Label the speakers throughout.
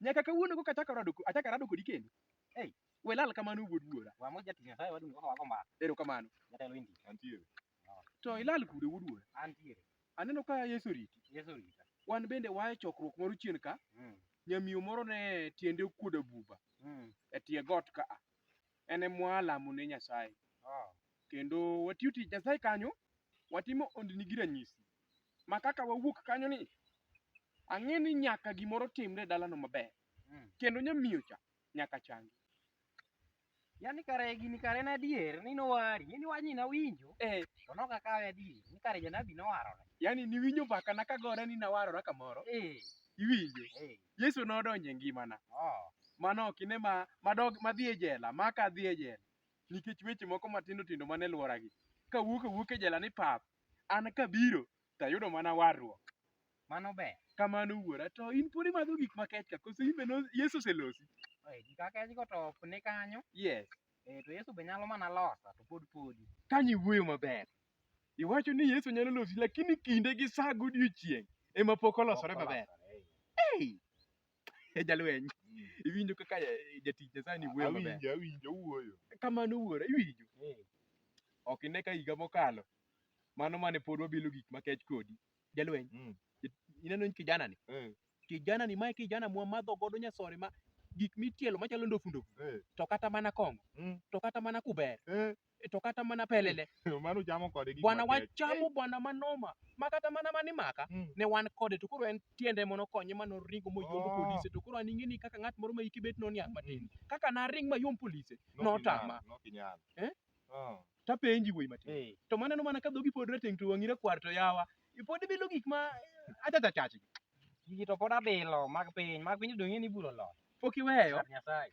Speaker 1: Nyaka kawuono koka achako rado ko- achako arado kodi kendo. Ei, we lal kamano wuod wuora. Wa mo jatich Nyasaye wadung' kaka wago mbaka. Erokamano. Jatelo indi. Antiere. To ilal kude wuod wuora. Antiere. Aneno ka Yesu oriti. Yesu orita. Wan bende wae chokruok moro chien ka. Mm. Nyamiyo moro ne tiende okuodo buba Mm. e tie got ka a. En emwa lamo ne Nyasaye. Oh. Kendo watiyo tich Nyasaye kanyo, watimo ondini gi ranyisi. ma kaka wawuok kanyo ni ang'e ni nyaka gimoro timre e dalano maber Mm. kendo nyamiyo cha nyaka changi Yani kare gini kare en adier ni nowari, ni wachni nawinjo eh, to nok akawe adier ni kare janabi nowarore. yani niwinjo mbakana kagore ni nawarora kamoro Eh, iwinjo eh, yesu nodonjo e ngimana oh, mano ok ine ma madog madhi e jela ma ka dhi e jela nikech weche moko matindo tindo mane lworagi kawuok awuok e jela ni pap An kabiro to ayudo mana warruok. Mano ber. Kamano wuora. To in pod imadho gik makech ka koso in be Yesu oselosi? Eh, gik akechgo to ok ni kanyo. Yes. Eh, to Yesu be nyalo mana losa to pod podi. Kanyo iwuoyo maber. Iwacho ni Yesu nyalo losi lakini kinde gi saa godiechieng' ema pok olosore maber. Hey! e jalweny iwinjo kaka eh, jatich nyasaye ni wuoyo maber Awinjo, awinjo wuoyo. kamano wuora iwinjo ok ine ka higa mokalo mano mane pod wabilo gik makech kodi jalweny Mm. ineno kijana ni Eh, kijana ni mae kijana mwa madho godo nyasore ma gik mitielo machalo ndofu ndofu eh, to kata mana kong'o mm, to kata mana kuber eh. E, to kata mana pelele mano chamo kode gik bwana makech. wachamo bwana manoma ma kata mana mani maka Mm. ne wan kode to koro en tiende mono konye ma noringo moyombo Oh. polise to koro an ing'eni kaka ng'at moro ma hike bet noniang' matin kaka naring mayom polise Nok notama. inyal, nok inyal. Eh? Ah. tapenji wuoyi matin Eh, to maneno mana ka dhogi pod rateng' to wang'i rakwar to yawa ipod ibilo gik ma achachachachi gigi to pod abilo mag piny mag piny donge ni iburo loyo pok iweyo Kar nyasaye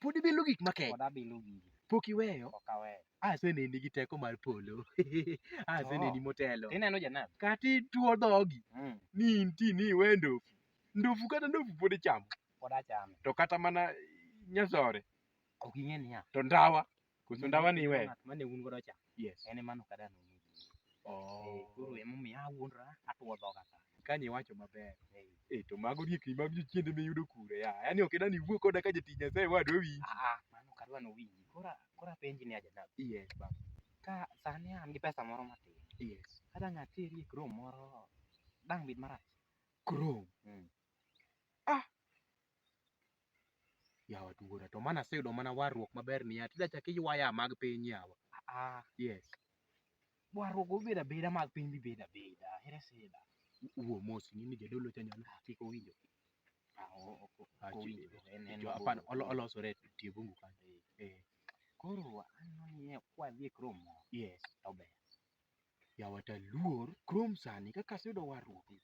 Speaker 1: Pod ibi lu gik makech. Pod abi lu gigi. Pok iweyo. Pok aweyo. Aseneni gi teko mar polo. Aseneni motelo. Ineno janabi. Kati tuo dhogi. Mm. Ni inti ni iwe ndofu. Ndofu kata ndofu pod ichamo. Pod achame. To kata mana nyasore. Ok ing'e niya. To ndawa. Koso ndawa ni iweyo? Ng'at mane un godo cha, Yes. en ema noka dano mudi. Eh, Koro Oh. emomiyo awuondora atuo dhoga ka. Kani iwacho maber. Eh, Eh, to mago riekni mag jochiende miyudo kure ya. Yaani ok idani iwuo koda ka jatich Nyasaye wadwa winji. ah, ah, mano ok adwa nowinji. Kora kora penji ni aja dako. Yes, baba. Ka sani an gi pesa moro matin, Yes. kadang' ateri e krom moro dang' bed marach. Krom. Mm. Ah! Yawa wuora to mana aseyudo mana warruok maber ni ya, tida chak iywayaa mag piny yawa. Aa, yes. Warruok obed abeda mag piny bibed abeda, ere sida. Wuo mos ing'eni jadolo cha nyono kik owinjo. Ah, o- o- o- Ah, ok owinjo. chi- En- en Jo- mabor. hapana, olo- olosore e tie bungu kanyo. Eh, Koro aneno ni kwadhi e kromo yes. to ber. Yawata luor krom sani kaka aseyudo warruok ni.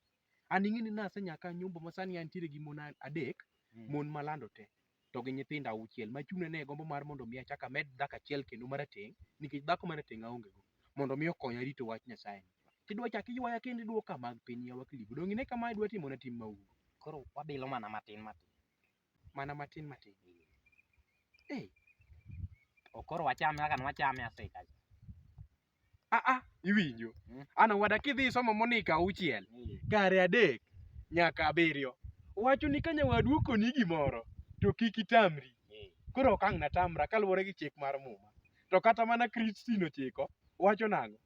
Speaker 1: An ing'e ni nasenyaka nyombo ma sani antiere gi mon adek, Mm. mon malando te to gi nyithindo auchiel ma chuna ne gombo mar mondo mi achak amed dhako achiel kendo marateng' nikech dhako marateng' aonge go mondo mi okonya rito wach Nyasaye. Tidwa chak iywaya kendo idwoka mag piny yawa kilibu. Donge ine kama idwa timona tim maundu. Koro wabilo mana matin matin. Mana matin matin. Hey. To koro wachame kaka nwachame asika. Ah ah, iwinjo. Mm. An owada kidhi somo monika auchiel, Mm. kare adek nyaka abiriyo. Wacho ni ka nyawadu okoni gimoro to kik itamri. Mm. Koro ok ang' natamra kaluwore gi chik mar muma. To kata mana Kristo nochiko wacho nang'o?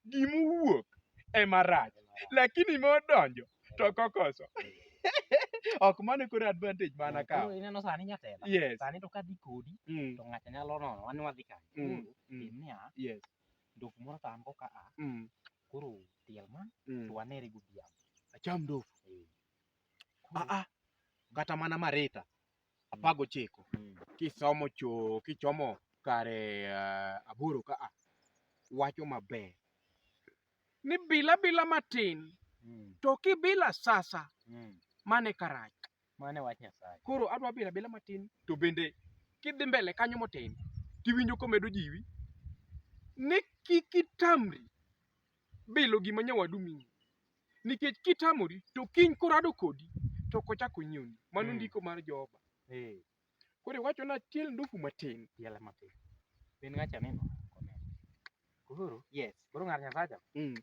Speaker 1: gimowuok ema rach lakini modonjo to kokoso ok mano koro advantage mana ka Koro ineno sani nyatela yes sani to kadhi kodi mm, to ng'ato nyalo nono wan wadhi kanye mm, Koro, mm, tim niya yes ndok moro to an go ka a mm, koro tiel ma mm. to wanere godhiambo acham ndofu Eh. Koro, ah ah kata mana marita apar gochiko mm. kisomo cho kichomo kare uh, aboro ka a wacho maber ni bila bila matin mm. to kibila sasa mm. mane karach mane wach nyasaye
Speaker 2: koro adwa bila bila
Speaker 1: matin to bende kidhi mbele kanyo motin tiwinjo komedo jiwi ni kik itamri bilo gima nyawadu miyi nikech kitamori to kiny korado kodi to kochak onyiewni mano mm. ndiko mar Jehova eh. koro iwacho na tiel ndufu matin tiel matin
Speaker 2: ben ngacha nino koro yes koro ngar nyasacha mm.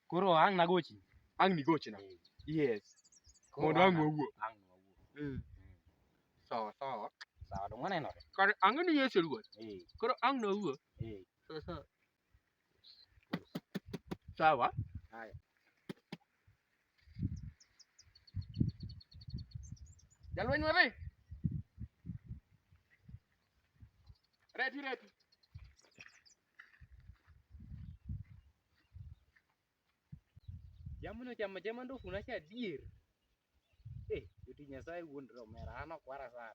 Speaker 2: koro ang nagochi ang nigochi na
Speaker 1: eh. yes mondo ang wawuo ang wawuo mm. so so sawa dong
Speaker 2: wanenore kar ang ni yesu
Speaker 1: ruoth eh. koro ang nawuo so so Sawa. Haya. Jalweny wadhi. Reti reti.
Speaker 2: Jamno chama chama ndo kuna cha dier. Eh, yuti nyasaye wuon romera ano kwara sana.